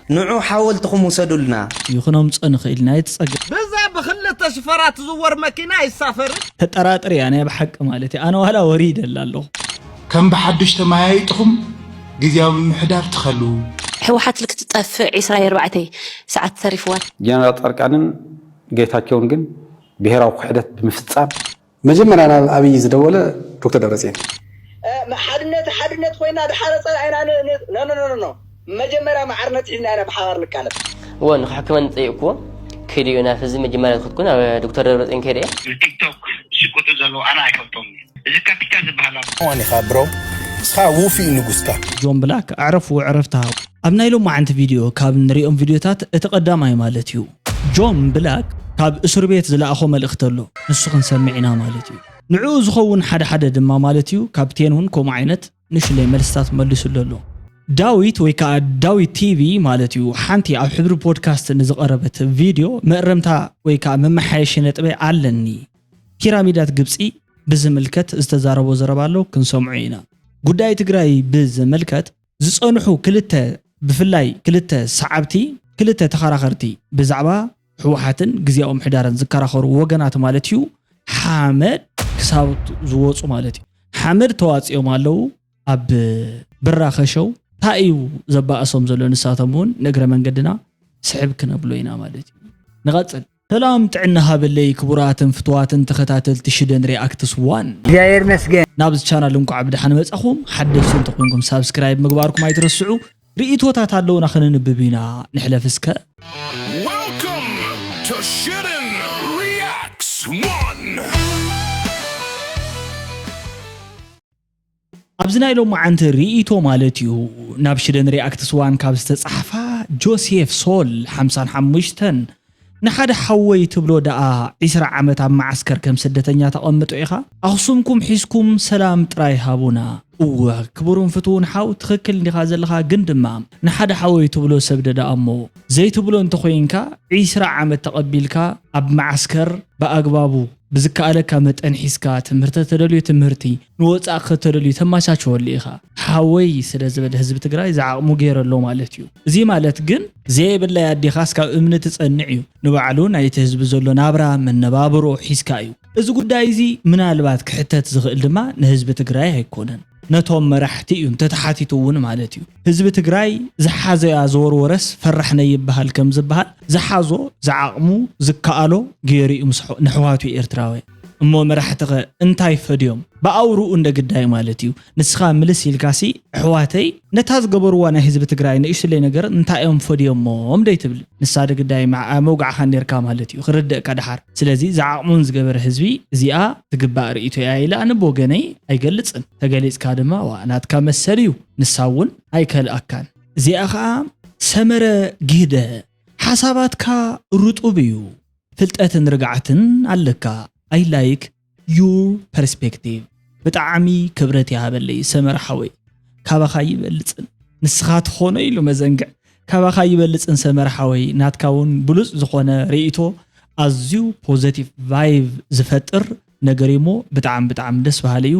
ንዑ ሓወልትኹም ውሰዱልና። ይኹኖም ጸንኽ ኢልና የቲ ጸገ። ብዛ ብክልተ ሽፈራ ትዝወር መኪና ኣይሳፈርን። ተጠራጥር እያ ናይ ብሓቂ ማለት እዩ ኣነ ዋላ ወሪደ እለ ኣለኹ። ከም ብሓዱሽ ተመያይጥኹም ግዝያዊ ምምሕዳር ትኸሉ። ሕውሓት ልክትጠፍእ ዕስራ ኣርባዕተ ስዓት ተሪፍዋ። ጀነራል ፃድቃንን ጌታቸውን ግን ብሄራዊ ክሕደት ብምፍፃም፣ መጀመርያ ናብ ኣብይ ዝደወለ ዶክተር ደብረፅየን እዩ። ሓድነት ሓድነት ኮይና ድሓረ ፀላኢና ኖኖኖኖ መጀመርያ ማዕርነት ሒዝና ኢና ብሓባር ንቃለስ። እወ ንክሕክመኒ ጠይቅክዎ ከይደ እዮ ናብ ህዝቢ መጀመርያ ዝከድኩ ናብ ዶክተር ደብረፅየን ከይደ እየ። ንቲክቶክ ዝሽቅጡ ዘለዉ ኣነ ኣይፈልጦምን እየ እዚ ካፒታ ዝብሃል ኣሎ። ኦን ኢካ ብሮ ንስካ ውፊይ ንጉስካ። ጆን ብላክ ኣዕረፉ ዕረፍቲ ሃቡ። ኣብ ናይ ሎማዓንቲ ቪድዮ ካብ ንሪኦም ቪድዮታት እቲ ቀዳማይ ማለት እዩ። ጆን ብላክ ካብ እሱርቤት ዝላኣኾ መልእኽቲ ኣሎ ንሱ ክንሰምዕ ኢና ማለት እዩ ንዑኡ ዝኸውን ሓደ ሓደ ድማ ማለት እዩ ካብቴን ውን ከምኡ ዓይነት ንእሽለይ መልስታት መሊሱሉ ኣሎ ዳዊት ወይ ከኣ ዳዊት ቲቪ ማለት እዩ ሓንቲ ኣብ ሕብሪ ፖድካስት ንዝቐረበት ቪድዮ መእረምታ ወይ ከኣ መመሓየሺ ነጥበይ ኣለኒ ፒራሚዳት ግብጺ ብዝምልከት ዝተዛረቦ ዘረባ ኣሎ ክንሰምዖ ኢና ጉዳይ ትግራይ ብዝምልከት ዝጸንሑ ክልተ ብፍላይ ክልተ ሰዓብቲ ክልተ ተኸራኸርቲ ብዛዕባ ህወሓትን ግዝያዊ ምሕዳርን ዝከራኸሩ ወገናት ማለት እዩ ሓመድ ክሳብቱ ዝወፁ ማለት እዩ ሓመድ ተዋፂኦም ኣለዉ ኣብ ብራ ከሸው እንታይ እዩ ዘባእሶም ዘሎ ንሳቶም እውን ንእግረ መንገድና ስሕብ ክነብሎ ኢና ማለት እዩ ንቐፅል ሰላም ጥዕና ሃበለይ ክቡራትን ፍቱዋትን ተኸታተልቲ ሽደን ሪኣክትስ ዋን። እግዚኣብሔር ይመስገን። ናብዚ ቻናል እንቋዕ ብደሓን መጻኹም ሓደሽቲ እንተኾይንኩም ሳብስክራይብ ምግባርኩም ኣይትረስዑ ርኢቶታት ኣለውና ከነንብብ ኢና ንሕለፍ እስከ። Welcome to Shouldn't Reacts One. ኣብዚ ናይ ሎማዓንቲ ሪኢቶ ማለት እዩ ናብ ሽደን ሪኣክትስ ዋን ካብ ዝተጻሕፋ ጆሴፍ ሶል ሓምሳን ሓሙሽተን ንሓደ ሓወይ ትብሎ ደኣ ዒስራ ዓመት ኣብ መዓስከር ከም ስደተኛ ተቐምጦ ኢኻ ኣኽሱምኩም ሒዝኩም ሰላም ጥራይ ሃቡና። እወ ክቡሩን ፍትውን ሓው ትክክል እንዲኻ ዘለኻ ግን ድማ ንሓደ ሓወይ ትብሎ ሰብ ደዳኣሞ ዘይትብሎ እንተኮይንካ ዒስራ ዓመት ተቀቢልካ ኣብ መዓስከር ብኣግባቡ ብዝከኣለካ መጠን ሒዝካ ትምህርተ ተደልዩ ትምህርቲ ንወጻኢ ከተደልዩ ተማቻቸወሉ ኢኻ ሓወይ ስለ ዝበለ ህዝቢ ትግራይ ዝዓቕሙ ገይረ ኣሎ ማለት እዩ እዙይ ማለት ግን ዘየብለይ ኣዴኻስ ካብ እምኒ ትጸንዕ እዩ ንባዕሉ ናይቲ ህዝቢ ዘሎ ናብራ መነባብሮ ሒዝካ እዩ እዚ ጉዳይ እዙይ ምናልባት ክሕተት ዝኽእል ድማ ንህዝቢ ትግራይ ኣይኮነን ነቶም መራሕቲ እዩ እንተተሓቲቱ እውን ማለት እዩ። ህዝቢ ትግራይ ዝሓዘያ ዝወርወረስ ፈራሕ ነይብሃል ከምዝብሃል ዝሓዞ ዝዓቕሙ ዝከኣሎ ገይሩ እዩ ምስ ነሕዋቱ ኤርትራውያን። እሞ መራሕቲኸ እንታይ ፈድዮም ብኣውርኡ እንደ ግዳይ ማለት እዩ ንስኻ ምልስ ኢልካሲ ኣሕዋተይ ነታ ዝገበርዋ ናይ ህዝቢ ትግራይ ንእሽለይ ነገር እንታይ እዮም ፈድዮሞም ደይትብል ንሳ ዶ ግዳይ ምዓኣ መውጋዕኻ ኔርካ ማለት እዩ ክርደእካ ድሓር ስለዚ ዝዓቕሙን ዝገበረ ህዝቢ እዚኣ ትግባእ ርእይቶይ እያ ኢለ ኣነ ብወገነይ ኣይገልጽን ተገሊጽካ ድማ ዋእ ናትካ መሰል እዩ ንሳ እውን ኣይከልኣካን እዚኣ ኸኣ ሰመረ ጊህደ ሓሳባትካ ርጡብ እዩ ፍልጠትን ርግዓትን ኣለካ ኣይ ላይክ። ዩር ፐርስፔክቲቭ ብጣዕሚ ክብረት ይሃበለይ ሰመረ ሓወይ ካባኻ ይበልፅን ንስኻ ትኾኖ ኢሉ መዘንግዕ ካባኻ ይበልፅን ሰመረ ሓወይ ናትካ እውን ብሉፅ ዝኾነ ርእይቶ ኣዝዩ ፖዘቲቭ ቫይቭ ዝፈጥር ነገር እዩሞ ብጣዕሚ ብጣዕሚ ደስ በሃሊ እዩ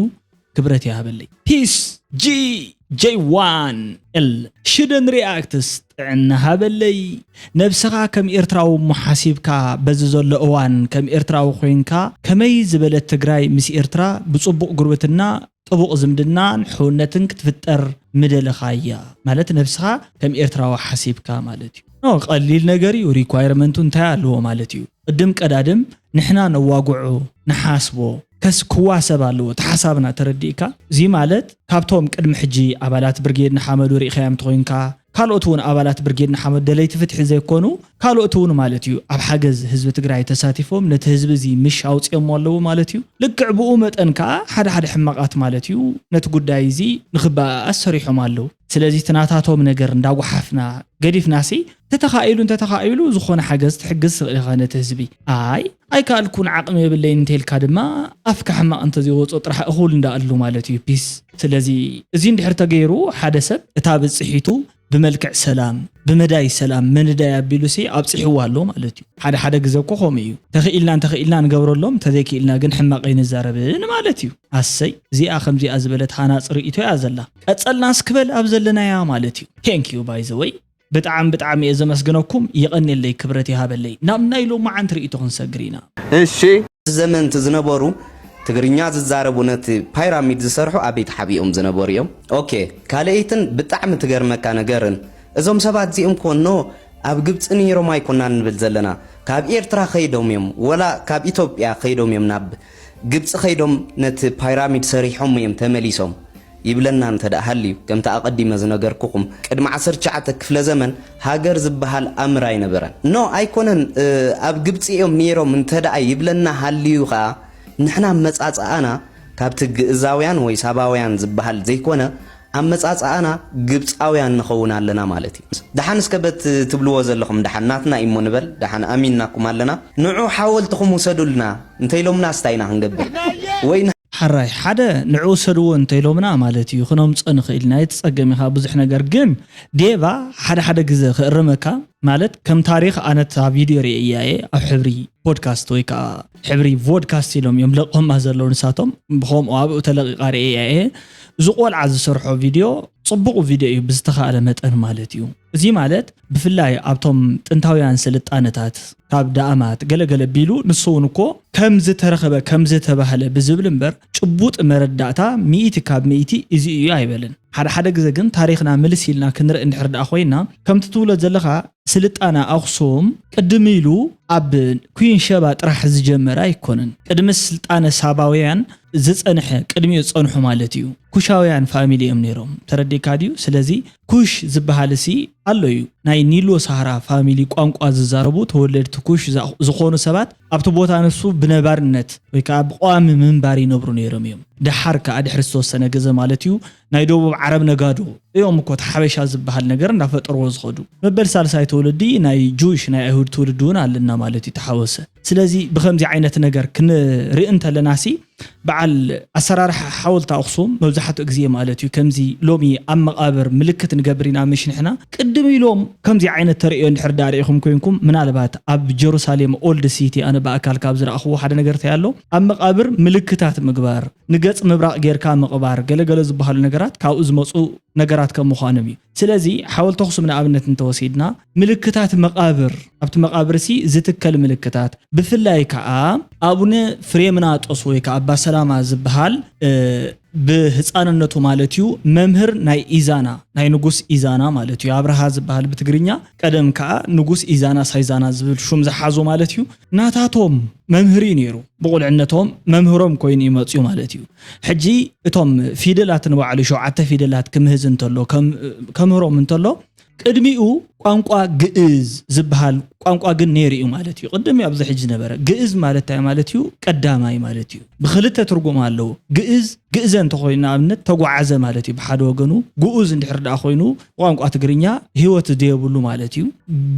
ክብረት ይሃበለይ ፒስ ጂ ጀይ ዋን እል ሽደን ሪኣክትስ ጥዕና ሃበለይ ነብስኻ ከም ኤርትራዊ እሞ ሓሲብካ በዚ ዘሎ እዋን ከም ኤርትራዊ ኮይንካ ከመይ ዝበለት ትግራይ ምስ ኤርትራ ብጽቡቕ ጉርብትና ጥቡቕ ዝምድናን ሕውነትን ክትፍጠር ምደለኻያ ማለት ነብስኻ ከም ኤርትራዊ ሓሲብካ ማለት እዩ ኖ ቀሊል ነገር እዩ ሪኳይርመንቱ እንታይ ኣለዎ ማለት እዩ ቅድም ቀዳድም ንሕና ነዋግዖ ንሓስቦ ከስ ክዋሰብ ኣለዎ እቲ ሓሳብና ተረዲእካ እዚ ማለት ካብቶም ቅድሚ ሕጂ ኣባላት ብርጌድ ንሓመዱ ሪእኻዮም እንተኾይንካ ካልኦት ውን ኣባላት ብርጌድ ንሓመዱ ደለይቲ ፍትሒ ዘይኮኑ ካልኦት ውን ማለት እዩ ኣብ ሓገዝ ህዝቢ ትግራይ ተሳቲፎም ነቲ ህዝቢ እዚ ምሽ ኣውጺኦሞ ኣለዉ ማለት እዩ ልክዕ ብኡ መጠን ከኣ ሓደ ሓደ ሕማቃት ማለት እዩ ነቲ ጉዳይ እዚ ንኽበኣኣስ ሰሪሖም ኣለዉ ስለዚ እቲ ናታቶም ነገር እንዳጓሓፍና ገዲፍናሲ ተተኻኢሉ እንተተኻኢሉ ዝኾነ ሓገዝ ትሕግዝ ትኽእል ኢኻ ነቲ ህዝቢ ኣይ ኣይከኣልኩን ዓቕሚ የብለይን እንተልካ ድማ ኣፍካ ሕማቕ እንተዘይወፆ ጥራሕ እኹል እንዳኣሉ ማለት እዩ ፒስ ስለዚ እዚ እንድሕር ተገይሩ ሓደ ሰብ እታ ብፅሒቱ ብመልክዕ ሰላም ብመዳይ ሰላም መንዳይ ኣቢሉሲ ኣብፂሕዋ ኣሎ ማለት እዩ ሓደ ሓደ ግዘ እኮ ከምኡ እዩ ተኽኢልና እንተኽኢልና ንገብረሎም እንተዘይክኢልና ግን ሕማቕ ኣይንዛረብን ማለት እዩ ኣሰይ እዚኣ ከምዚኣ ዝበለት ሃናፂ ርእይቶ እያ ዘላ ቀጸልና እስኪ በል ኣብ ዘለናያ ማለት እዩ thank you by the way ብጣዕሚ ብጣዕሚ እየ ዘመስግነኩም የቐኔለይ ክብረት ይሃበለይ ናብ ናይ ሎማዓንቲ ርእይቶ ክንሰግር ኢና እሺ ኣብቲ ዘመን እቲ ዝነበሩ ትግርኛ ዝዛረቡ ነቲ ፓይራሚድ ዝሰርሑ ኣበይ ተሓቢኦም ዝነበሩ እዮም ኦኬ ካልኤይትን ብጣዕሚ ትገርመካ ነገርን እዞም ሰባት እዚኦም ኮኖ ኣብ ግብጺ ነይሮም ኣይኮናን ንብል ዘለና ካብ ኤርትራ ከይዶም እዮም ወላ ካብ ኢትዮጵያ ከይዶም እዮም ናብ ግብጺ ከይዶም ነቲ ፓይራሚድ ሰሪሖሞ ኢዮም ተመሊሶም ይብለና እንተ ሃልዩ ከምቲ ኣቀዲመ ዝነገርኩኹም ቅድሚ ዓሰርተ ትሽዓተ ክፍለ ዘመን ሃገር ዝበሃል ኣምር ኣይነበረን no ኣይኮነን ኣብ ግብጺ ኢዮም ኔሮም እንተ ይብለና ሃልዩ ከኣ ንሕና ኣመጻጽኣና ካብቲ ግእዛውያን ወይ ሳባውያን ዝበሃል ዘይኮነ ኣመጻጽኣና ግብጻውያን ንኸውን ኣለና ማለት እዩ። ደሓን እስከ በቲ ትብልዎ ዘለኹም ደሓን ናትና እዩሞ ንበል፣ ደሓን ኣሚንናኩም ኣለና፣ ንዑ ሓወልትኹም ውሰዱልና እንተኢሎምናስ እንታይ ኢና ክንገብር ወይ ሐራይ ሐደ ንዑ ውሰድዎ እንተኢሎምና ማለት እዩ ክነምጾ ንኽእል ኢና ኣይትጸገም ኢኻ ብዙሕ ነገር ግን ዴቫ ሐደ ሐደ ግዘ ክእርመካ ማለት ከም ታሪኽ ኣነ እታ ቪድዮ ሪኤያ እየ ኣብ ሕብሪ ፖድካስት ወይ ከኣ ሕብሪ ቮድካስት ኢሎም እዮም ለቕምማ ዘለዉ ንሳቶም ብከምኡ ኣብኡ ተለቂቃ ርእያ እየ እዚ ቆልዓ ዝሰርሖ ቪድዮ ጽቡቕ ቪድዮ እዩ ብዝተኻእለ መጠን ማለት እዩ እዚ ማለት ብፍላይ ኣብቶም ጥንታውያን ስልጣነታት ካብ ዳእማት ገለገለ ቢሉ ንሱ እውን እኮ ከም ዝተረኸበ ከም ዝተባህለ ብዝብል እምበር ጭቡጥ መረዳእታ ሚእቲ ካብ ሚእቲ እዚ እዩ ኣይበልን ሓደ ሓደ ግዜ ግን ታሪኽና ምልስ ኢልና ክንርኢ እንድሕር ደኣ ኮይና ከምቲ ትብሎ ዘለኻ ስልጣነ ኣኽሱም ቅድም ኢሉ ኣብ ኲን ሸባ ጥራሕ ዝጀመረ ኣይኮነን። ቅድሚ ስልጣነ ሳባውያን ዝጸንሐ ቅድሚኡ ዝጸንሑ ማለት እዩ። ኩሻውያን ፋሚሊ እዮም ነይሮም። ተረዲእካ ድዩ? ስለዚ ኩሽ ዝበሃልሲ ኣሎ እዩ። ናይ ኒሎ ሳህራ ፋሚሊ ቋንቋ ዝዛረቡ ተወለድቲ ኩሽ ዝኾኑ ሰባት ኣብቲ ቦታ ንሱ ብነባርነት ወይ ከኣ ብቐዋሚ ምንባር ይነብሩ ነይሮም እዮም። ደሓር ከኣ ድሕሪ ዝተወሰነ ግዘ ማለት እዩ ናይ ደቡብ ዓረብ ነጋዶ እዮም እኮ እቲ ሓበሻ ዝበሃል ነገር እንዳፈጠርዎ ዝኸዱ። መበል ሳልሳይ ትውልዲ ናይ ጁሽ ናይ ኣይሁድ ትውልዲ ውን ኣለና ማለት እዩ ተሓወሰ። ስለዚ ብኸምዚ ዓይነት ነገር ክንርኢ እንተለናሲ በዓል ኣሰራርሓ ሓወልቲ ኣኽሱም መብዛሕትኡ ግዜ ማለት እዩ ከምዚ ሎሚ ኣብ መቓብር ምልክት ንገብር ኢና ምሽ ንሕና ቅድም ኢሎም ከምዚ ዓይነት ተርእዮ እንድሕር ደኣ ርኢኹም ኮይንኩም ምናልባት ኣብ ጀሩሳሌም ኦልድ ሲቲ ኣነ ብኣካል ካብ ዝረኣኽዎ ሓደ ነገር እንታይ ኣሎ ኣብ መቓብር ምልክታት ምግባር ንገጽ ምብራቕ ጌርካ ምቕባር ገለ ገለ ዝበሃሉ ነገራት ካብኡ ዝመጹ ነገራት ከም ምዃኖም እዩ። ስለዚ ሓወልቲ ኣኽሱም ንኣብነት እንተወሲድና ምልክታት መቓብር ኣብቲ መቓብርሲ ዝትከል ምልክታት ብፍላይ ከኣ ኣቡነ ፍሬምናጦስ ወይ ከኣ ኣባ ሰላማ ዝበሃል ብህጻንነቱ ማለት እዩ መምህር ናይ ኢዛና ናይ ንጉስ ኢዛና ማለት እዩ ኣብርሃ ዝበሃል ብትግርኛ ቀደም ከኣ ንጉስ ኢዛና ሳይዛና ዝብል ሹም ዝሓዞ ማለት እዩ ናታቶም መምህር እዩ ነይሩ ብቑልዕነቶም መምህሮም ኮይኑ እዩ መፅዩ ማለት እዩ። ሕጂ እቶም ፊደላት ንባዕሉ ሸውዓተ ፊደላት ክምህዝ እንተሎ ከምህሮም እንተሎ ቅድሚኡ ቋንቋ ግእዝ ዝበሃል ቋንቋ ግን ነይሩ እዩ ማለት እዩ። ቅድም እዩ ኣብዚ ሕጂ ዝነበረ ግእዝ ማለት እንታይ ማለት እዩ? ቀዳማይ ማለት እዩ። ብክልተ ትርጉም ኣለዎ። ግእዝ ግእዘ እንተኮይኑ ንኣብነት ተጓዓዘ ማለት እዩ ብሓደ ወገኑ፣ ግኡዝ እንድሕር ደኣ ኮይኑ ቋንቋ ትግርኛ ህይወት ዘየብሉ ማለት እዩ።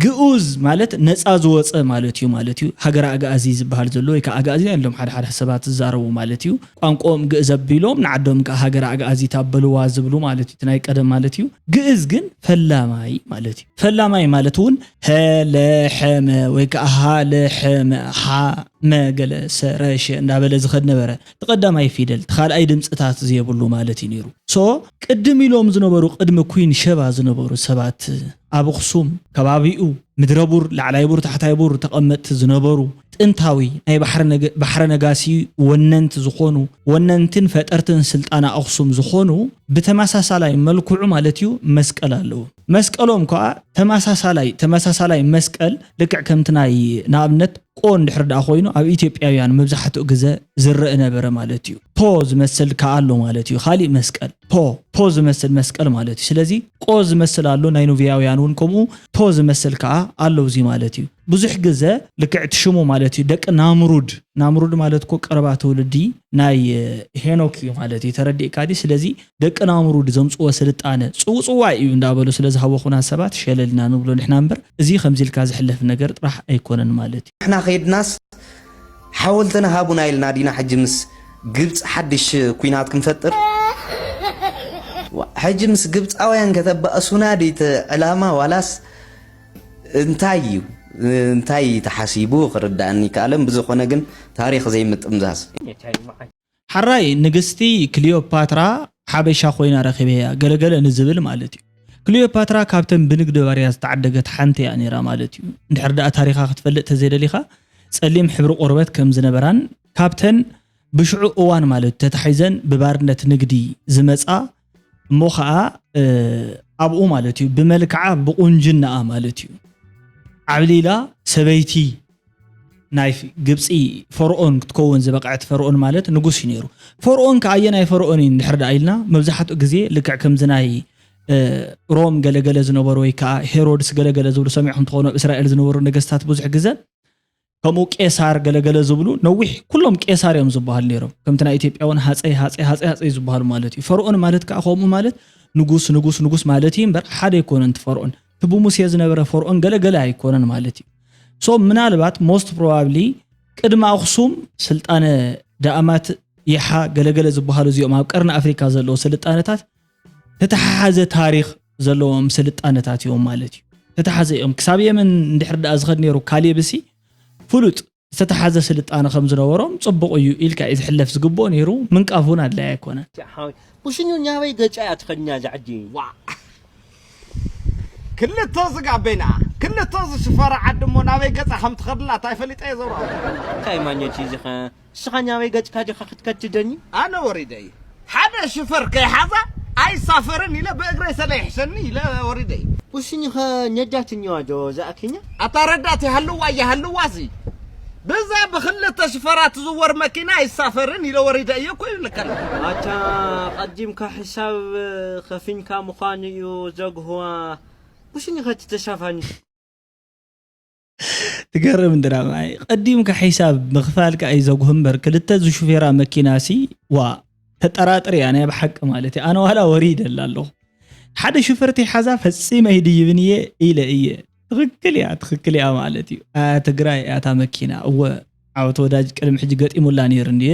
ግኡዝ ማለት ነጻ ዝወጸ ማለት እዩ ማለት እዩ። ሃገረ ኣግኣዚ ዝበሃል ዘሎ ወይ ከኣ ኣግኣዚያን ኢሎም ሓደ ሓደ ሰባት ዝዛረቡ ማለት እዩ። ቋንቋኦም ግእዝ ኣቢሎም ንዓዶም ከኣ ሃገረ ኣግኣዚት ኣበልዋ ዝብሉ ማለት እዩ እቲ ናይ ቀደም ማለት እዩ። ግእዝ ግን ፈላማይ ማለት እዩ። ፈላማይ ማለት እውን ሀ፣ ለ፣ ሐ፣ መ ወይ ከኣ ሀ፣ ለ፣ ሐ፣ መ፣ ሐ፣ መ፣ ገለ፣ ሰ፣ ረ፣ ሸ እንዳበለ ዝኸድ ነበረ። እቲ ቀዳማይ ፊደል እቲ ካልኣይ ድምጽታት ዘየብሉ ማለት እዩ ነይሩ so ቅድም ኢሎም ዝነበሩ ቅድሚ ኩን ሸባ ዝነበሩ ሰባት ኣብ ኣኽሱም ከባቢኡ ምድረ ቡር ላዕላይ ቡር ታሕታይ ቡር ተቐመጥቲ ዝነበሩ ጥንታዊ ናይ ባሕረ ነጋሲ ወነንት ዝኾኑ ወነንትን ፈጠርትን ስልጣነ ኣኽሱም ዝኾኑ ብተመሳሳላይ መልክዑ ማለት እዩ መስቀል ኣለዎም። መስቀሎም ከኣ ተመሳሳላይ ተመሳሳላይ መስቀል ልክዕ ከምቲ ናይ ንኣብነት ቆ እንድሕር ደኣ ኮይኑ ኣብ ኢትዮጵያውያን መብዛሕትኡ ግዘ ዝረእ ነበረ ማለት እዩ። ፖ ዝመስል ከኣ ኣሎ ማለት እዩ ካሊእ መስቀል ፖ ፖ ዝመስል መስቀል ማለት እዩ። ስለዚ ቆ ዝመስል ኣሎ ናይ ኑብያውያን እውን ከምኡ ፖ ዝመስል ከኣ ኣሎ እዚ ማለት እዩ። ብዙሕ ግዘ ልክዕ እቲ ሽሙ ማለት እዩ ደቂ ናምሩድ ናምሩድ ማለት እኮ ቀረባ ትውልዲ ናይ ሄኖክ እዩ ማለት እዩ ተረዲእካ ድዩ ስለዚ ደቂ ናሙሩድ ዘምጽዎ ስልጣነ ጽውጽዋይ እዩ እንዳበሉ ስለ ዝሃወኹና ሰባት ሸለል ኢና ንብሎ ንሕና እምበር እዚ ከምዚ ኢልካ ዝሕለፍ ነገር ጥራሕ ኣይኮነን ማለት እዩ። ንሕና ከይድናስ ሓወልትና ሃቡና ኢልና ዲና ሕጂ ምስ ግብጺ ሓድሽ ኩናት ክንፈጥር? ዋእ ሕጂ ምስ ግብጻውያን ከተባእሱና ድዩ እቲ ዕላማ ዋላስ እንታይ እዩ እንታይ ተሓሲቡ ክርዳኣኒ ኣይከኣለን ብዝኾነ ግን ታሪኽ ዘይምጥምዛዝ። ሐራይ ንግስቲ ክሊዮፓትራ ሓበሻ ኮይና ረኺበያ ገለ ገለ ንዝብል ማለት እዩ። ክሊዮፓትራ ካብተን ብንግዲ ባርያ ዝተዓደገት ሓንቲ እያ ነይራ ማለት እዩ። እንድሕር ደኣ ታሪኻ ክትፈልጥ ተዘይደሊኻ ጸሊም ሕብሪ ቆርበት ከም ዝነበራን ካብተን ብሽዑ እዋን ማለት እዩ ተታሒዘን ብባርነት ንግዲ ዝመጻ እሞ ከዓ ኣብኡ ማለት እዩ ብመልክዓ ብቁንጅናኣ ማለት እዩ ዓብሊላ ሰበይቲ ናይ ግብፂ ፈርኦን ክትከውን ዝበቕዐት ፈርኦን ማለት ንጉስ እዩ ነይሩ ፈርኦን ከዓ ኣየናይ ፈርኦን እዩ እንድሕር ዳኣ ኢልና መብዛሕትኡ ግዜ ልክዕ ከምዚ ናይ ሮም ገለገለ ዝነበሩ ወይ ከዓ ሄሮድስ ገለገለ ዝብሉ ሰሚዕኩም ትኾኑ ኣብ እስራኤል ዝነበሩ ነገስታት ብዙሕ ግዘ ከምኡ ቄሳር ገለገለ ዝብሉ ነዊሕ ኩሎም ቄሳር እዮም ዝበሃሉ ነይሮም ከምቲ ናይ ኢትዮጵያ እውን ሃፀይ ሃፀይ ሃፀይ ሃፀይ ዝበሃሉ ማለት እዩ ፈርኦን ማለት ከዓ ከምኡ ማለት ንጉስ ንጉስ ንጉስ ማለት እዩ እምበር ሓደ ኣይኮነን እቲ ፈርኦን እቲ ብሙሴ ዝነበረ ፈርኦን ገለገለ ኣይኮነን ማለት እዩ ሶ ምናልባት ሞስት ፕሮባብሊ ቅድሚ ኣኽሱም ስልጣነ ዳእማት ይሓ ገለገለ ዝበሃሉ እዚኦም ኣብ ቀርኒ ኣፍሪካ ዘለዉ ስልጣነታት ተተሓሓዘ ታሪኽ ዘለዎም ስልጣነታት እዮም ማለት እዩ። ተተሓዘ እዮም። ክሳብ የመን እንድሕር ድኣ ዝኸድ ነይሩ ካሌብሲ ፍሉጥ ዝተተሓዘ ስልጣነ ከም ዝነበሮም ጽቡቕ እዩ ኢልካ እዩ ዝሕለፍ ዝግብኦ ነይሩ። ምንቃፍ እውን ኣድላይ ኣይኮነን። ሓወይ ኩሽኙ ናበይ ገጫ እያ ትኸድኛ ዛዕዲ ዋዕ ክልተ ዝጋ ቤና ክልተ ዝሽፈራ ዓዲ እሞ ናበይ ገጻ ከም ትኸድላ ታይ ፈሊጠ እየ ዘውራወ። እንታይ ማኘት እዩ እዚ ከ ንስኻ ኛበይ ገጽካ ዲኻ ክትከትደኒ? ኣነ ወሪደ እየ ሓደ ሽፈር ከይሓዛ ኣይሳፈርን ኢለ ብእግረይ ሰለ ይሕሸኒ ኢለ ወሪደ እየ። ኡስኝኸ ነዳት እኒዋ ዶ እዛ ኬኛ? ኣታ ረዳት ይሃልዋ ኣይሃልዋሲ ብዛ ብክልተ ሽፈራ ትዝወር መኪና ኣይሳፈርን ኢለ ወሪደ እየ እኮ ይብልከለኹ። ኣታ ቀዲምካ ሕሳብ ከፊንካ ምዃኑ እዩ ዘግህዋ ኡስኝኸ እቲ ተሳፋኒ። ትገርም ድራማ እይ ቀዲምካ ሒሳብ ምክፋልካ እዩ ዘጉህ እምበር ክልተ ዝሹፌራ መኪና ሲ ዋ ተጠራጥር እያ ናይ ብሓቂ ማለት እዩ ኣነ ዋላ ወሪ ይደላ ኣለኹ ሓደ ሹፈርቲ ሓዛ ፈፂመ ይድይብን እየ ኢለ እየ ትክክል እያ ትክክል እያ ማለት እዩ ኣያ ትግራይ እያታ መኪና እወ ዓወት ወዳጅ ቅድሚ ሕጂ ገጢሙላ ነይሩ እንድየ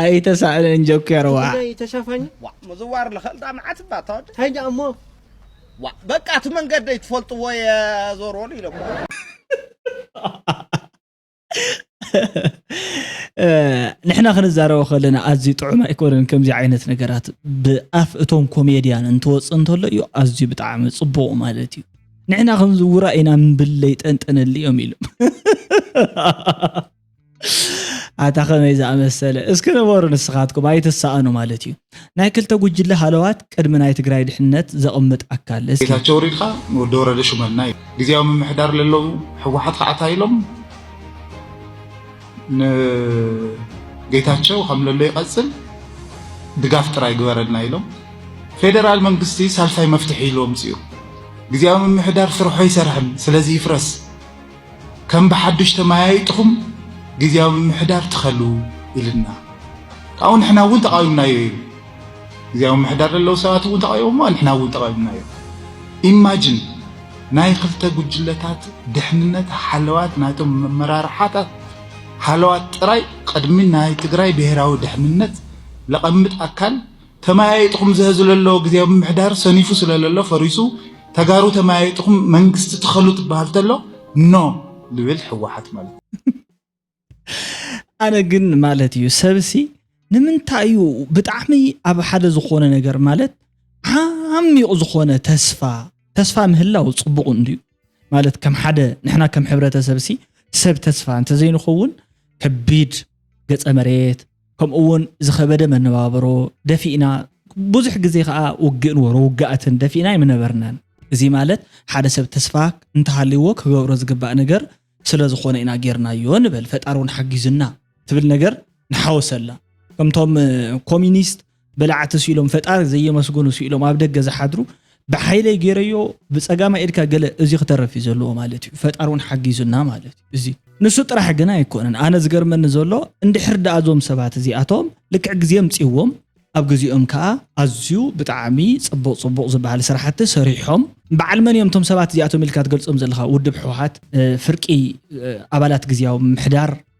ኣይተሳእለን ጆኬርዋ ጉዳይ ተሻፋኝ ዋእ ምዝዋር ልኽእል ዳ መዓት እባ ተወድ እንታይ ደኣ እሞ ዋእ በቃ እቲ መንገደይ ትፈልጥዎ እየ ዞርዎሉ ኢሎም ንሕና ክንዛረቦ ከለና ኣዝዩ ጥዑም ኣይኮነን ከምዚ ዓይነት ነገራት ብኣፍ እቶም ኮሜድያን እንትወፅእ እንተሎ እዩ ኣዝዩ ብጣዕሚ ፅቡቕ ማለት እዩ ንሕና ከምዚ ውራ ኢና ምብል ለይጠንጠነሉ እዮም ኢሎም ኣታ ከመይ ዝኣመሰለ እስኪ ንበሩ ንስኻትኩም ኣይትሰኣኑ ማለት እዩ ናይ ክልተ ጉጅለ ሃለዋት ቅድሚ ናይ ትግራይ ድሕነት ዘቕምጥ ኣካል እስኪ ጌታቸው ሪድካ ንወዲ ወረደ ሹመልና እዩ ግዜያዊ ምምሕዳር ለለው ሕወሓት ከዓ እንታይ ኢሎም ንጌታቸው ከም ለሎ ይቐፅል ድጋፍ ጥራይ ግበረልና ኢሎም ፌደራል መንግስቲ ሳልሳይ መፍትሒ ኢሉ ኣምፅኡ ግዜያዊ ምምሕዳር ስርሖ ኣይሰርሕን ስለዚ ይፍረስ ከም ብሓዱሽ ተመያይጥኹም ግዝያዊ ምምሕዳር ትኸሉ ኢልና ካብኡ ንሕና እውን ተቓዊምናዮ ኢሉ ግዝያዊ ምምሕዳር ዘለዉ ሰባት እውን ተቓዊሞሞ ንሕና እውን ተቓዊምናዮ ኢማጅን ናይ ክልተ ጉጅለታት ድሕንነት ሓለዋት ናይቶም መመራርሓታት ሓለዋት ጥራይ ቅድሚ ናይ ትግራይ ብሔራዊ ድሕንነት ለቐምጥ ኣካል ተመያይጥኹም ዘህዝለሎ ግዜያዊ ምምሕዳር ሰኒፉ ስለለሎ ፈሪሱ ተጋሩ ተመያይጥኹም መንግስቲ ትኸሉ ትበሃል ተሎ ኖ ልብል ሕወሓት ማለት ኣነ ግን ማለት እዩ ሰብሲ ንምንታይ እዩ ብጣዕሚ ኣብ ሓደ ዝኾነ ነገር ማለት ዓሚቕ ዝኾነ ተስፋ ተስፋ ምህላው ፅቡቕ እንድዩ ማለት ከም ሓደ ንሕና ከም ሕብረተሰብሲ ሰብ ተስፋ እንተዘይንኸውን ከቢድ ገፀ መሬት ከምኡ እውን ዝኸበደ መነባብሮ ደፊእና ብዙሕ ግዜ ከዓ ውግእ ንበሮ ውግኣትን ደፊእና ኣይምነበርናን። እዚ ማለት ሓደ ሰብ ተስፋ እንተሃልይዎ ክገብሮ ዝግባእ ነገር ስለ ዝኾነ ኢና ጌርናዮ ንበል፣ ፈጣሪ እውን ሓጊዙና ትብል ነገር ንሓወሰላ። ከምቶም ኮሚኒስት በላዕቲ ስኢሎም ፈጣሪ ዘየመስግኑ ስኢሎም ኣብ ደገ ዝሓድሩ ብሓይለይ ገይረዮ ብፀጋማይ ኢድካ ገለ እዚ ክተረፍ እዩ ዘለዎ ማለት እዩ ፈጣሪ እውን ሓጊዙና ማለት እዩ እዚ ንሱ ጥራሕ ግን ኣይኮነን ኣነ ዝገርመኒ ዘሎ እንድሕር ደኣ እዞም ሰባት እዚኣቶም ልክዕ ግዜ ምፅዎም ኣብ ግዜኦም ከዓ ኣዝዩ ብጣዕሚ ፅቡቕ ፅቡቕ ዝበሃል ስራሕቲ ሰሪሖም በዓል መን እዮም እቶም ሰባት እዚኣቶም ኢልካ ትገልፆም ዘለካ ውድብ ሕወሓት ፍርቂ ኣባላት ግዜያዊ ምሕዳር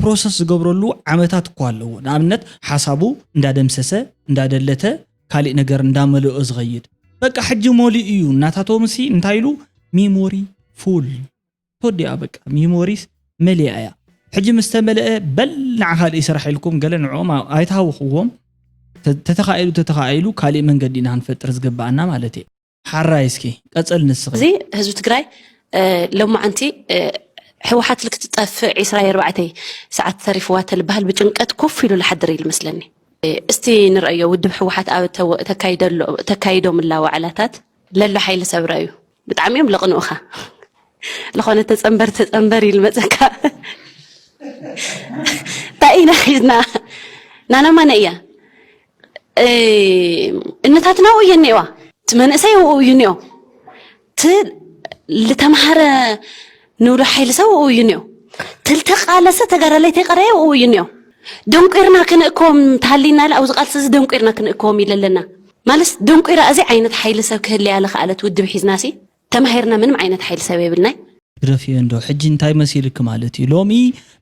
ፕሮሰስ ዝገብረሉ ዓመታት እኳ ኣለዎ። ንኣብነት ሓሳቡ እንዳደምሰሰ እንዳደለተ ካሊእ ነገር እንዳመለኦ ዝኸይድ በቃ ሕጂ መሊኡ እዩ እናታቶምሲ እንታይ ኢሉ ሚሞሪ ፉል ተወዲኣ በቃ ሚሞሪስ መሊኣ እያ ሕጂ ምስ ተመለአ በል ንዓ ካልእ ስራሕ ኢልኩም ገለ ንዕኦም ኣይትሃውኽዎም ተተኻኢሉ ተተኻኢሉ ካሊእ መንገዲ ኢና ክንፈጥር ዝግበኣና ማለት እየ ሓራይ እስኪ ቀፅል ንስኺ እዚ ህዝቢ ትግራይ ሎማዓንቲ ሕወሓት ልክ ትጠፍእ ዒስራ ኣርባዕተይ ሰዓት ተሪፍዋ ተልበሃል ብጭንቀት ኮፍ ኢሉ ዝሓድር እዩ ዝመስለኒ እስቲ ንርእዮ ውድብ ሕወሓት ኣብ ተካይዶም እላ ዋዕላታት ለሎ ሓይሊ ሰብረ እዩ ብጣዕሚ እዮም ለቕንኡኻ ዝኾነ ተፀንበር ተፀንበር ኢል መፀካ እንታይ ኢና ሒዝና ናና ማነ እያ እነታትና ኣብኡ እየን እኒኤዋ እቲ መንእሰይ ኣብኡ እዩ እኒኦ እቲ ዝተምሃረ ንብሎ ሓይሊ ሰብ ኣብኡ እዩ እኒኦ ትልተቃለሰ ተጋዳላይ ተይቀረየ ኣብኡ እዩ እኒኦ ደንቂርና ክንእከቦም እንተሃሊና ኢለ ኣብዚ ቃልሲ እዚ ደንቂርና ክንእከቦም ኢለ ኣለና ማለት ደንቂራ እዚ ዓይነት ሓይሊ ሰብ ክህልያ ዝኸኣለት ውድብ ሒዝናሲ ተማሂርና ምንም ዓይነት ሓይሊ ሰብ የብልናይ። ግደፍዮ እንዶ ሕጂ እንታይ መሲልኪ ማለት እዩ ሎሚ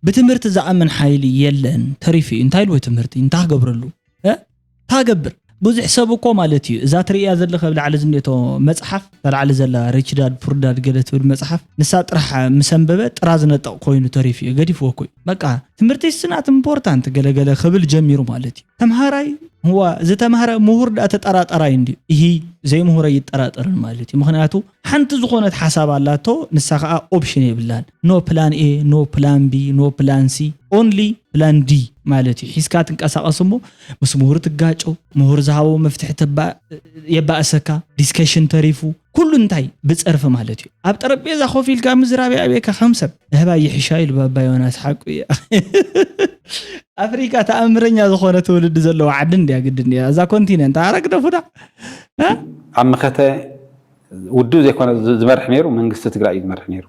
ብትምህርቲ ዝኣምን ሓይሊ የለን ተሪፉ እዩ እንታይ ልዎ ትምህርቲ እንታይ ክገብረሉ እህ እንታይ ክገብር ብዙሕ ሰብ እኮ ማለት እዩ እዛ ትርእያ ዘለኺ ኣብ ላዕሊ ዝኔቶ መጽሓፍ እታ ላዕሊ ዘላ ሪች ዳድ ፑር ዳድ ገለ ትብል መጽሓፍ ንሳ ጥራሕ ምስ ኣንበበ ጥራዝ ነጠቕ ኮይኑ ተሪፉ እዩ ገዲፍዎ እኮ እዩ በቃ ትምህርቲ ኢስ ናት ኢምፖርታንት ገለ ገለ ክብል ጀሚሩ ማለት እዩ ተምሃራይ ዋ ዝተማህረ ምሁር ዳኣ ተጠራጠራይ እንድዩ እሂ ዘይምሁረ ይጠራጠርን ማለት እዩ ምክንያቱ ሓንቲ ዝኾነት ሓሳብ ኣላቶ ንሳ ከዓ ኦፕሽን የብላን ኖ ፕላን ኤ ኖ ፕላን ቢ ኖ ፕላን ሲ ኦንሊ ፕላን ዲ ማለት እዩ ሒዝካ ትንቀሳቀስ እሞ ምስ ምሁር ትጋጮ ምሁር ዝሃቦ መፍትሒ የባእሰካ ዲስከሽን ተሪፉ ኩሉ እንታይ ብፀርፊ ማለት እዩ ኣብ ጠረጴዛ ኮፍ ኢልካ ምዝራብ የኣብየካ ከም ሰብ ንህባይ ይሕሻ ኢሉ ባባ ዮናስ ሓቁ እዩ ኣፍሪካ ተኣምረኛ ዝኾነ ትውልዲ ዘለዎ ዓዲ እንድያ ግድን እያ እዛ ኮንቲነንት ኣረግደፉዳ ኣብ መኸተ ውድብ ዘይኮነ ዝመርሕ ነይሩ መንግስቲ ትግራይ እዩ ዝመርሕ ነይሩ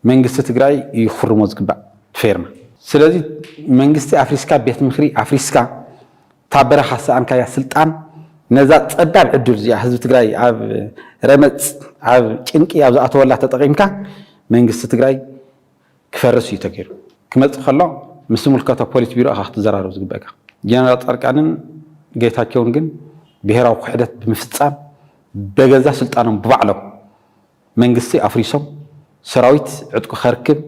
መንግስቲ ትግራይ እዩ ክፍርሞ ዝግባእ ፌርማ ስለዚ መንግስቲ ኣፍሪስካ ቤት ምክሪ ኣፍሪስካ እታ በረኻ ዝሰኣንካያ ስልጣን ነዛ ጸባብ ዕድል እዚኣ ህዝቢ ትግራይ ኣብ ረመጽ ኣብ ጭንቂ ኣብ ዝኣተወላ ተጠቒምካ መንግስቲ ትግራይ ክፈርስ እዩ ተገይሩ። ክመጽእ ከሎ ምስ ዝምልከቶ ፖሊት ቢሮ ኢኻ ክትዘራረብ ዝግበእካ። ጀነራል ጻድቃንን ጌታቸውን ግን ብሄራዊ ክሕደት ብምፍጻም በገዛ ስልጣኖም ብባዕሎም መንግስቲ ኣፍሪሶም ሰራዊት ዕጥቁ ከርክብ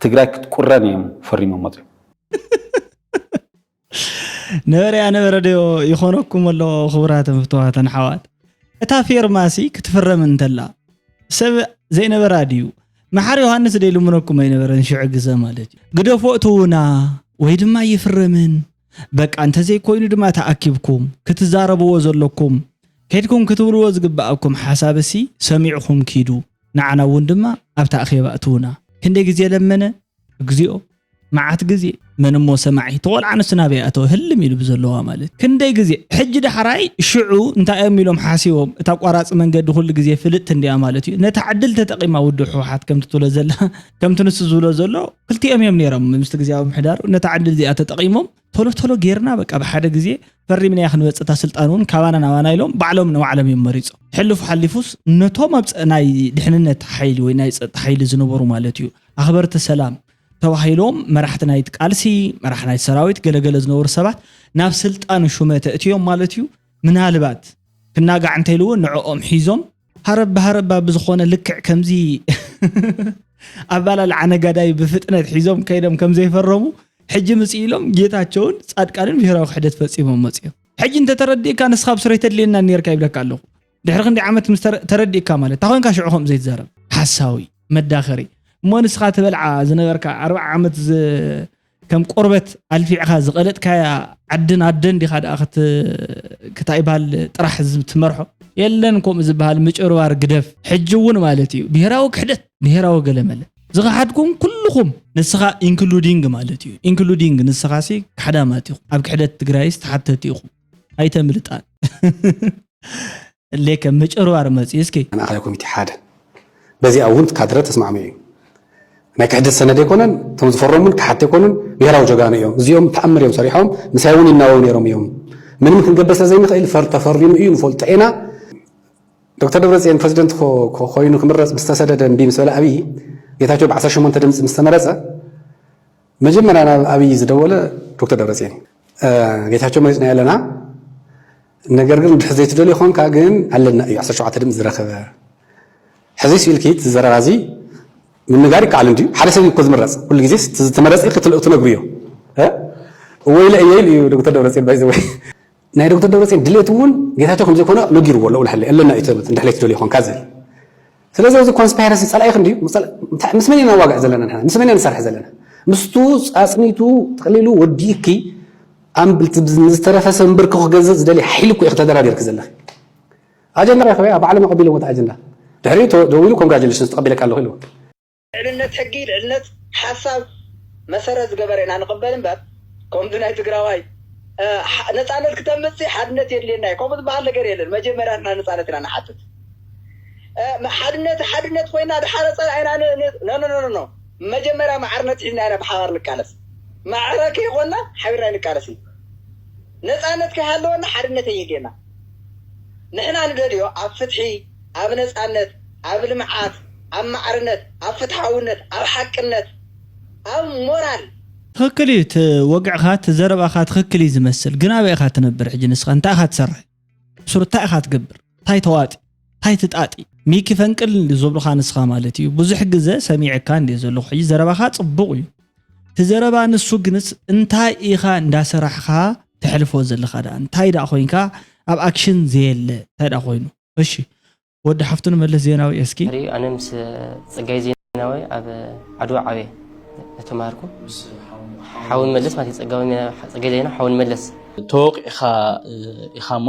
ትግራይ ክትቁረን እዮም ፈሪሞም ወጺኦም። ነበረ ያ ነበረ ዶ ይኾነኩም ኣሎ ክቡራትን ፍትዋትን ሓዋት እታ ፌርማሲ ክትፍረም እንተላ ሰብ ዘይነበራ ድዩ መሓር ዮሃንስ ደይ ልምነኩም ኣይነበረን ሽዑ ግዘ ማለት እዩ ግደፎ እትውና ወይ ድማ ይፍረምን በቃ እንተዘይኮይኑ ድማ ተኣኪብኩም ክትዛረብዎ ዘለኩም ከድኩም ክትብልዎ ዝግብኣኩም ሓሳብ እሲ ሰሚዕኹም ኪዱ ንዓና እውን ድማ ኣብታ ኣኼባ እትውና ክንደይ ግዜ ለመነ እግዚኦ መዓት ግዜ መን እሞ ሰማዒ እቲ ቆልዓ ንሱ ናበይ ኣተወ ህልም ኢሉ ብዘለዋ ማለት ክንደይ ግዜ ሕጂ ዳሕራይ ሽዑ እንታይ እዮም ኢሎም ሓሲቦም እታ ኣቋራፂ መንገዲ ኩሉ ግዜ ፍልጥቲ እንዲያ ማለት እዩ ነታ ዕድል ተጠቂማ ውድብ ሕወሓት ከምቲ ትብሎ ዘላ ከምቲ ንሱ ዝብሎ ዘሎ ክልቲኦም እዮም ነይሮም ምስቲ ግዜያዊ ምሕዳሩ ነታ ዕድል እዚኣ ተጠቂሞም ቶሎ ቶሎ ጌርና በቃ ብሓደ ግዜ ፈሪምናያ ክንበፅእ እታ ስልጣን እውን ካባና ናባና ኢሎም ባዕሎም ንባዕሎም እዮም መሪፆም ሕልፉ ሓሊፉስ ነቶም ኣብ ናይ ድሕንነት ሓይሊ ወይ ናይ ፀጥታ ሓይሊ ዝነበሩ ማለት እዩ ኣኽበርቲ ሰላም ተባሂሎም መራሕቲ ናይቲ ቃልሲ መራሒ ናይቲ ሰራዊት ገለገለ ዝነበሩ ሰባት ናብ ስልጣን ሹመት እእትዮም ማለት እዩ ምናልባት ክናጋዕ እንተይልዎ ንዕኦም ሒዞም ሃረብ ሃረብ ብዝኾነ ልክዕ ከምዚ ኣባላልዓ ነጋዳይ ብፍጥነት ሒዞም ከይዶም ከም ዘይፈረሙ ሕጂ ምፅ ኢሎም ጌታቸውን ፃድቃንን ብሄራዊ ክሕደት ፈፂሞም መፅኦም ሕጂ እንተተረዲእካ ንስኻ ብስረይ ተድልየና ነርካ ይብለካ ኣለኹ ድሕሪ ክንዲ ዓመት ምስ ተረዲእካ ማለት እታ ኮንካ ሽዑ ከምኡ ዘይትዛረብ ሓሳዊ መዳኸሪ እሞ ንስኻ ትበልዓ ዝነበርካ ኣርባዓ ዓመት ከም ቆርበት ኣልፊዕኻ ዝቐለጥካያ ዓድን ኣደን ዲኻ ደኣ ክታይ ይበሃል ጥራሕ ትመርሖ የለን ከምኡ ዝበሃል ምጭርባር ግደፍ ሕጂ እውን ማለት እዩ ብሄራዊ ክሕደት ብሄራዊ ገለመለ ዝኸሓድኩም ኩልኹም ንስኻ ኢንክሉዲንግ ማለት እዩ ኢንክሉዲንግ ንስኻ ሲ ካሕዳማት ኢኹም ኣብ ክሕደት ትግራይስ ተሓተቲ ኢኹም ኣይተምልጣን ሌከ ምጭርባር መፅኡ እስኪ ማእኸላይ ኮሚቴ ሓደ በዚኣ እውን ካድረ ተስማዕሚዑ እዩ ናይ ክሕደት ሰነድ ኣይኮነን እቶም ዝፈረሙ እውን ክሓት ኣይኮኑን ብሄራዊ ጀጋኑ እዮም እዚኦም ተኣምር እዮም ሰሪሖም ምሳይ እውን ይናበቡ ነይሮም እዮም ምንም ክንገብር ስለ ዘይንኽእል ፈር ተፈሪሙ እዩ ንፈልጦ ኢና ዶክተር ደብረፅዮን ፕሬዚደንት ኮይኑ ክምረፅ ምስተሰደደ እምቢ ምስ በለ ኣብዪ ጌታቸው ብ18 ድምፂ ምስተመረፀ መጀመርያ ናብ ኣብይ ዝደወለ ዶክተር ደብረፅዮን እዩ። ጌታቸው መሪፅናዮ ኣለና ነገር ግን ብሕዚ ዘይትደልዮ ኮንካ ግን ኣለና እዩ ዓሰርተ ሸውዓተ ድምፂ ዝረኸበ ሕዚ ስኢልኪት ዝዘረባ እዚ ምንጋር ይከኣል እንድዩ ሓደ ሰብ እኮ ዝምረፅ ኩሉ ግዜ ዝተመረፀ ክትነግሩ እዮ ወይለ እየ ኢሉ እዩ ዶክተር ደብረፅዮን ባይዘወ ናይ ዶክተር ደብረፅዮን ድሌት እውን ጌታቸው ከምዘይኮነ ነጊርዎ ልኡል ሓይለ ኣለና እዩ ተመት እንድሕለይ ትደልዩ ኮንካ ዝብል ስለዚ እዚ ኮንስፓይረሲ ጸላኢኽ እንድዩ ምስ መን ኢና ንዋግዕ ዘለና ንሕና ምስ መን ኢና ንሰርሕ ዘለና ምስቱ ጻጽኒቱ ጥቕሊሉ ወዲእኪ ንዝተረፈ ሰብ ምብርኪ ክገዝእ ዝደልየ ሓይሊ እኮ ኢኺ ተደራዲርኪ ዘለኺ ኣጀንዳ ረከበያ ባዕሎም ኣቐቢሎምዎ እቲ ኣጀንዳ ድሕሪኡ ደዊሉ ኮንግራጁሌሽንስ ተቐቢለካ ኣለኹ ኢልዎ ልዕልነት ሕጊ፣ ልዕልነት ሓሳብ መሰረት ዝገበረ ኢና ንቕበል እምበር ከምዚ ናይ ትግራዋይ ነፃነት ክተምፅ ሲ ሓድነት የድልየና እዩ ከምኡ ዝበሃል ነገር የለን መጀመርያ ንሕና ነፃነት ኢና ንሓትት ሓድነት ሓድነት ኮይና ድሓረ ፀላኢና ኖኖኖኖ መጀመርያ ማዕርነት ሒዝና ኢና ብሓባር ንቃለስ ማዕረ ከይኮንና ሓቢርና ንቃለስ እዩ ነፃነት ከይሃለወና ሓድነት የየድልየና ንሕና ንደልዮ ኣብ ፍትሒ፣ ኣብ ነጻነት፣ ኣብ ልምዓት፣ ኣብ ማዕርነት፣ ኣብ ፍትሓውነት፣ ኣብ ሓቅነት፣ ኣብ ሞራል። ትኽክል እዩ እቲ ወግዕኻ እቲ ዘረባኻ ትኽክል እዩ ዝመስል ግን ኣበይ ኢኻ ትነብር ሕጂ ንስኻ እንታይ ኢኻ ትሰርሕ ኣብሱር እንታይ ኢኻ ትገብር እንታይ ተዋጢ። ታይ ትጣጢ ሚኪ ፈንቅል እንድዩ ዝብሉካ ንስካ ማለት እዩ ብዙሕ ግዘ ሰሚዐካ እንድየ ዘለኩ ሕጂ ዘረባካ ፅቡቅ እዩ እቲ ዘረባ ንሱ ግንስ እንታይ ኢካ እንዳሰራሕካ ተሕልፎ ዘለካ ድኣ እንታይ ድኣ ኮይንካ ኣብ ኣክሽን ዘየለ እንታይ ድኣ ኮይኑ እሺ ወዲ ሓፍቱ ንመለስ ዜናዊ እስኪ ሪኡ ኣነ ምስ ፅጋይ ዜናዊ ኣብ ዓድዋ ዓብየ ተማሃርኩ ሓው ንመለስ ማለት እዩ ፀጋይ ዜናዊ ሓው ንመለስ ተወቂዕኻ ኢኻ እሞ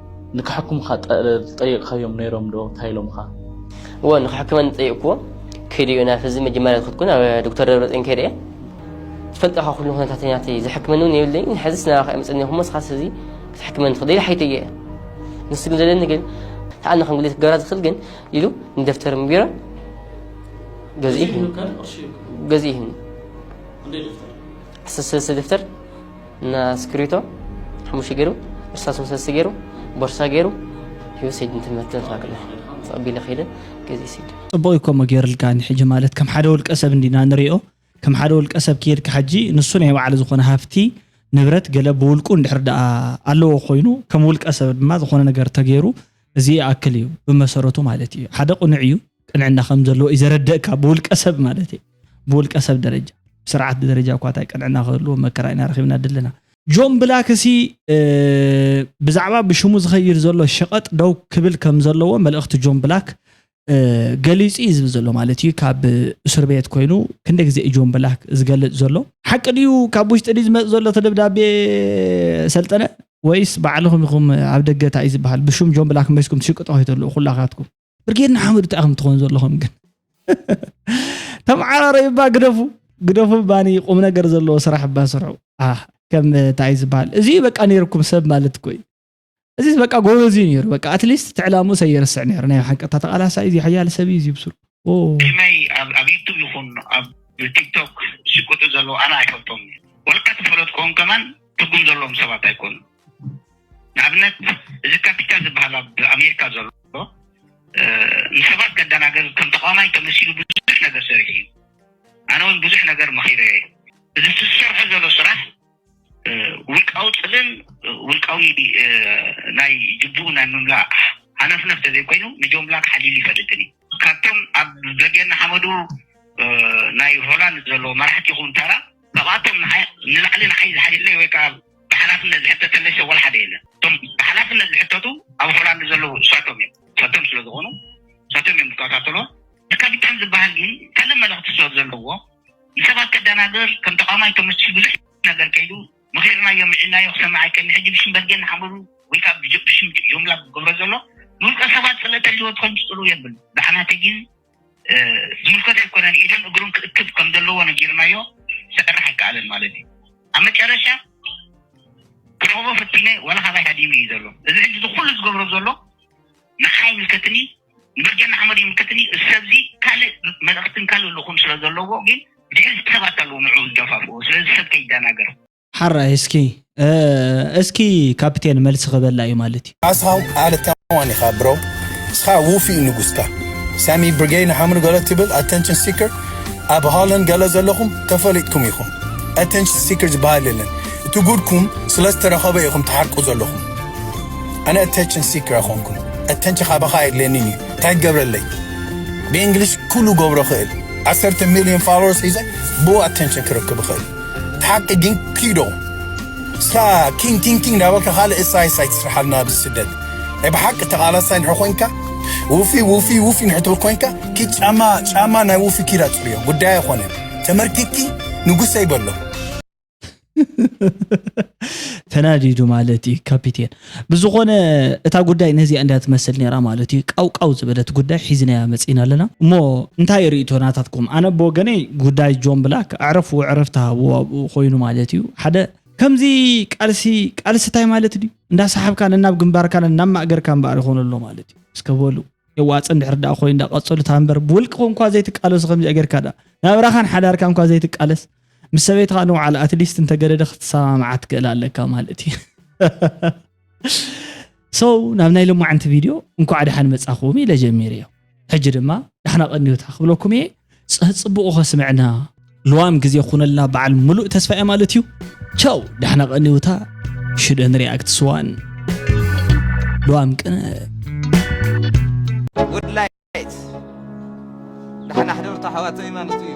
ንክሕኩምኻ ጠይቕካዮም ነይሮም ዶ እንታይ ኢሎምኻ? እወ ንክሕክመኒ ጠይቕክዎ ከይደ እዮ ናብ ህዝቢ መጀመርያ ዝኸድኩ ናብ ዶክተር ደብረፅዮን ከይደ እየ ትፈልጦ ካብ ኩሉ ኩነታተኛቲ ዝሕክመኒ እውን የብለይ ንሕዝስ ናባኻ የምፅኒ ይኹሞ ስኻስ እዚ ክትሕክመኒ ትኽእል ኢለ ሓይተየ እየ ንሱ ግን ዘለኒ ግን ተኣነ ከም ግሌት ክገብራ ዝኽእል ግን ኢሉ ንደፍተር ቢሮ ገዚኡ ገዚኡ ስሰ ደፍተር እና ስክሪቶ ሓሙሽተ ገይሩ እርሳስ መሰስቲ ገይሩ ቦርሳ ገይሩ ሂወት ሰይድ እንትመትን ተባክለ ተቐቢለ ከይደ ገዜ ሰይድ ጽቡቕ እዩ ከምኡ ገይርልካ ንሕጂ ማለት ከም ሓደ ውልቀ ሰብ እንዲና ንሪኦ ከም ሓደ ውልቀ ሰብ ከይድካ ሕጂ ንሱ ናይ ባዕሉ ዝኾነ ሃፍቲ ንብረት ገለ ብውልቁ እንድሕር ደኣ ኣለዎ ኮይኑ ከም ውልቀ ሰብ ድማ ዝኾነ ነገር ተገይሩ እዚ ይኣክል እዩ ብመሰረቱ ማለት እዩ ሓደ ቅኑዕ እዩ ቅንዕና ከም ዘለዎ እዩ ዘረደእካ ብውልቀ ሰብ ማለት እዩ ብውልቀ ሰብ ደረጃ ስርዓት ብደረጃ እኳ እንታይ ቅንዕና ክህልዎ መከራ ኢና ረኺብና ድለና ጆን ብላክሲ ብዛዕባ ብሽሙ ዝኸይድ ዘሎ ሸቐጥ ደው ክብል ከም ዘለዎ መልእኽቲ ጆን ብላክ ገሊጹ እዩ ዝብል ዘሎ ማለት እዩ ካብ እስር ቤት ኮይኑ ክንደ ግዜ እዩ ጆን ብላክ ዝገልጽ ዘሎ ሓቂ ድዩ ካብ ውሽጢ ድዩ ዝመፅ ዘሎ እቲ ደብዳቤ ሰልጠነ ወይስ ባዕልኹም ኢኹም ኣብ ደገ እንታይ እዩ ዝበሃል ብሽም ጆን ብላክ መሲኩም ትሽቅጦ ከይተልኡ ኩላካትኩም ብርጌድ ንሓመዱ እንታይ ከም ትኾኑ ዘለኹም ግን ተመዓራረዩ እባ ግደፉ ግደፉ ባኒ ቁም ነገር ዘለዎ ስራሕ እባ ስርሑ ከም እንታይ ዝበሃል እዚ በቃ ነይርኩም ሰብ ማለት እኮ እዩ እዚ በቃ ጎበዝ እዩ ነይሩ በቃ ኣትሊስት ትዕላሙ ሰየርስዕ ነይሩ ናይ ሓቂ እታ ተቃላሳ እዩ ሓያል ሰብ እዩ ዝብስሩ ከመይ ኣብ ዩቱብ ይኹን ኣብ ቲክቶክ ዝሽቅጡ ዘለዉ ኣነ ኣይፈልጦም ወልካ ተፈለጥኩም ከማን ትርጉም ዘለዎም ሰባት ኣይኮኑ ንኣብነት እዚ ካፒታ ዝብሃል ኣብ ኣሜሪካ ዘሎ ንሰባት ከደናግር ከም ተቃዋማይ ተመሲሉ ብዙሕ ነገር ሰሪሑ እዩ። ኣነ እውን ብዙሕ ነገር መኺረዮ እየ። እዚ ዝሰርሖ ዘሎ ስራሕ ውልቃዊ ጽልእን ውልቃዊ ናይ ጅቡኡ ናይ ምምላእ ሃነፍነፍ ተዘይኮይኑ ንጆን ብላክ ሓሊሉ ኣይፈልጥን እዩ። ካብቶም ኣብ ደገ ንሓመዱ ናይ ሆላንድ ዘሎ መራሕቲ ይኹን ተራ ካብኣቶም ንዓይ ንላዕሊ ንዓይ ዝሓልየለይ ወይ ከኣ ብሓላፍነት ዝሕተተለይ ሰብ ወላ ሓደ የለን። እቶም ብሓላፍነት ዝሕተቱ ኣብ ሆላንድ ዘለዉ ንሳቶም እዮም። ንሳቶም ስለ ዝኾኑ ንሳቶም እዮም ዝከታተልዎም። እቲ ካፒታል ዝበሃል ግን ካልእ መልእኽቲ ስለ ዘለዎ ንሰባት ከደናግር ከም ተቃዋማይ ከመስል ብዙሕ ነገር ከይዱ። መኺርናዮ ምዒድናዮ ክሰምዕ ኣይክእልን ሕጂ ብሽም በርጌድ ንሓመዱ ወይከኣ ብሽም ጆምላ ዝገብሮ ዘሎ ንውልቀ ሰባት ጽልእት ኣልዎ ትኾን ዝጽልኡ የብሉ ብዓና ተጊን ዝምልከቶ ኣይኮነን ኢዱን እግሩን ክእክብ ከም ዘለዎ ነጊርናዮ ክሰርሕ ኣይከኣለን ማለት እዩ ኣብ መጨረሻ ክረኽቦ ፈቲነ ዋላ ካባይ ሃዲሙ እዩ ዘሎ እዚ ሕጂ ዝኹሉ ዝገብሮ ዘሎ ንዓይ ኣይምልከትንይ ደጀን ንሓመዱ ይምልከተኒ እዩ። እዚ ሰብዚ ካልእ መልእኽትን ካልእ ልኡኽን ስለ ዘለዎ ግን ብድሕሪት ሰባት ኣለዉ ንዕኡ ዝደፋፍኡ። ስለዚ ሰብ ከይደናገር። ሓራይ እስኪ እስኪ ካፒቴን መልሲ ክበላ እዩ ማለት እዩ። ካሳሁን ኣለታዋን ኢኻ ብሮ እስኻ ውፊይ ንጉስካ ሳሚ ብርጌ ንሓምኑ ገለ ትብል ኣተንሽን ሲከር ኣብ ሆላንድ ገለ ዘለኹም ተፈሊጥኩም ኢኹም ኣተንሽን ሲከር ዝበሃል የለን እቲ ጉድኩም ስለ ዝተረኸበ ኢኹም ትሓርቁ ዘለኹም ኣነ ኣተችን ሲከር ኣይኮንኩን ኣተንች ካባኻ ኣየድልየኒን እዩ እንታይ ክገብረለይ ብእንግሊሽ ኩሉ ገብሮ ክእል ዓሰርተ ሚልዮን ፋሎወርስ ሒዘ ብኡ ኣተንችን ክረክብ እኽእል እቲ ሓቂ ግን ኪዶ እስካ ኪንግ ኪንግ ኪንግ እንዳበልካ ካልእ እሳይ እሳይ ትስርሓልና ኣብ ስደት ናይ ብሓቂ ተቓላሳይ ንሕ ኮንካ ውፊ ውፊ ውፊ ንሕ ትብል ኮንካ ኪድ ጫማ ጫማ ናይ ውፊ ኪድ ኣጽርዮ ጉዳይ ኣይኮነን ተመርኪኪ ንጉሰይ በሎ ተናዲዱ ማለት እዩ ካፒቴን ብዝኾነ እታ ጉዳይ ነዚኣ እንዳ ትመስል ነራ ማለት እዩ ቃውቃው ዝበለት ጉዳይ ሒዝናያ መፂና ኣለና እሞ እንታይ ርእቶ ናታትኩም ኣነ ብወገነይ ጉዳይ ጆን ብላክ ኣዕረፉ ዕረፍ ተሃቡ ኣብኡ ኮይኑ ማለት እዩ ሓደ ከምዚ ቃልሲ ቃልሲ እንታይ ማለት ድዩ እንዳሰሓብካ ነናብ ግንባርካ ነናብ ማእገርካ እምበኣር ይኾኑ ኣሎ ማለት እዩ እስከ በሉ የዋፅ እንድሕር ዳኣ ኮይኑ እንዳቀፅሉ ታንበር ብውልቅኹም እኳ ዘይትቃለሱ ከምዚ ጌርካ ዳኣ ናብራኻን ሓዳርካ እኳ ዘይትቃለስ ምስ ሰበይትኻ ንውዓል ኣትሊስት እንተገደደ ክትሰማምዓ ትክእል ኣለካ ማለት እዩ ሶ ናብ ናይ ሎማዓንቲ ቪድዮ እንኳዕ ድሓን መፃኹም ኢለ ጀሚረ እዮ ሕጂ ድማ ዳሕና ቀኒዮታ ክብለኩም እየ ፅብቑ ከስምዕና ልዋም ግዜ ኩነልና በዓል ምሉእ ተስፋ እየ ማለት እዩ ቻው ዳሕና ቀኒውታ ሽደን ሪያክት ስዋን ልዋም ቅነ ውድላይት ዳሕና ሕደርቶ ሓዋተይ ማለት እዩ